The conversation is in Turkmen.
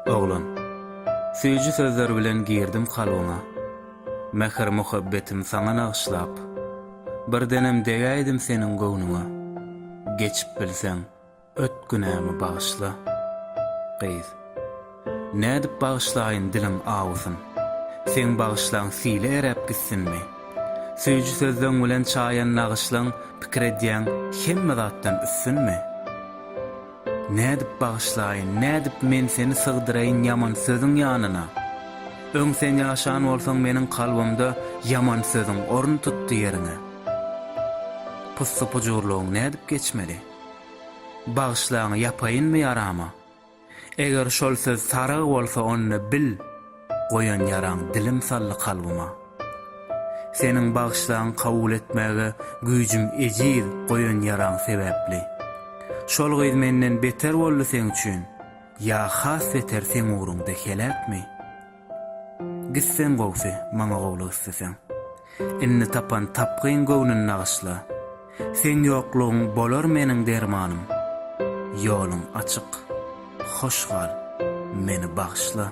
Oglan. Süýji sözler bilen girdim kalbyňa. Mähir-muhabbetim saňa nagyşlap. Birdenem degäýdim seniň göwnüňe. Geçip bilseň. Öt günämi bagyşla, gyz. Nädip bagyşlaýyn diliň awusyn. Seň bagyşlaň sile eräp gitsinmi? Süýji sözleň bilen çaýan nagyşlaň pikir edýäň hemme zatdan üstünmi? Nädip bagyşlaýyn, nädip men seni sygdyraýyn ýaman sözüň ýanyna? Öň sen ýaşan bolsaň meniň kalbymda ýaman sözüň orun tutdy ýeriňe. Pussy-pujurlygyň nädip geçmeli? Bagyşlaň ýapaýynmy ýarama? Eger şol söz sarygy bolsa onda bil goýan ýaraň dilim saldy kalbyma. Seniň bagyşlaň kabul etmäge güýjüm ejiz goýan ýaraň sebäpli. Şol gyz menden beter boldy seň üçin ýa has beter seň ugruňda heläkmi? Gitseň gowsy, maňa gowluk isleseň. Indi tapan tapgyň göwnüni nagyşla. Seň ýoklugyň bolar meniň dermanym. Ýoluň açyk, hoş gal, meni bagyşla.